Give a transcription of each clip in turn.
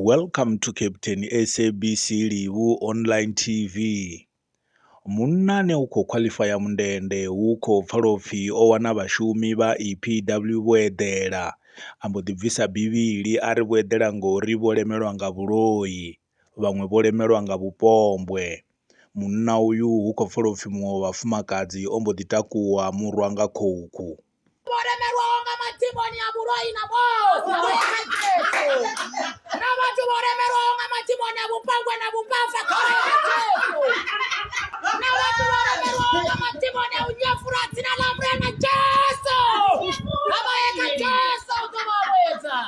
Welcome to Captain SABC Livhu Online TV. Munna ane u khou khwaḽifaya mundende hu khou pfala upfi o wana vhashumi vha EPW vho eḓela. A mbo ḓi bvisa bivhili a ri vho eḓela ngori vho lemelwa nga vhuloi, vhaṅwe vho lemelwa nga vhupombwe. Munna uyu hu khou pfala upfi muṅwe wa vhafumakadzi o mbo ḓi takuwa murwa nga khukhu. voremerwawo nga madhimoni a vhuloi na vhoṱhe na vhathu vho remerwaho nga madhimoni a vhupangwe na vhupafha na vhathu vho remerwaho nga madhimoni a u nyefula dzina ḽa murena jesu a vha ye kha jesu u ḓo vha vhuyedza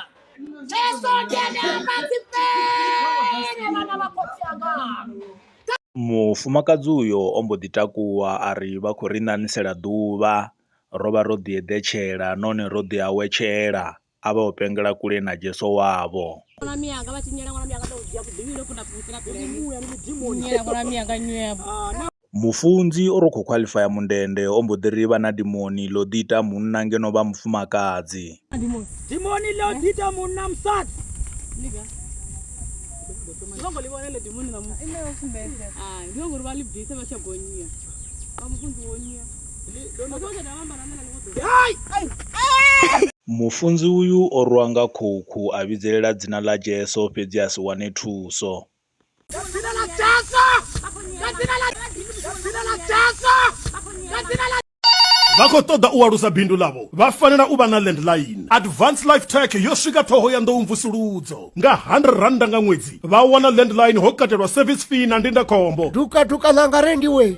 jesu ndi ene amba dzifele vhana vha khotsi anga Mufumakadzi uyo o mbo ḓi takuwa a ri vha khou ri ṋaṋisela ḓuvha. ro vha ro ḓi eḓetshela nahone ro ḓi awetshela, a vha o pengela kule na Jesu wavho. Mufunzi o ro khou khwaḽifaya mundende o mbo ḓi ri vha na dimoni ḽo ḓi ita munna ngeno vha mufumakadzi. Dimoni ḽo ḓi ita munna musadzi. Ndi vho ngo ḽi vhona ḽo dimoni ḽa musadzi. Ndi vho ngo ri vha ḽi bvise vha tshi ya bonnyia. Vha mufunzi wo nyia. Mufunzi uyu o rwa nga khukhu a vhidzelela dzina ḽa Jesu fhedzi a si wane thuso. vha khou ṱoḓa u alusa bindu ḽavho vha fanela u vha na landline advance life tech yo swika ṱhoho ya nḓou mvusuludzo nga 100 rannda nga ṅwedzi vha wana landline ho katelwa service fee na ndindakhombo dukaduka ḽanga rendiwe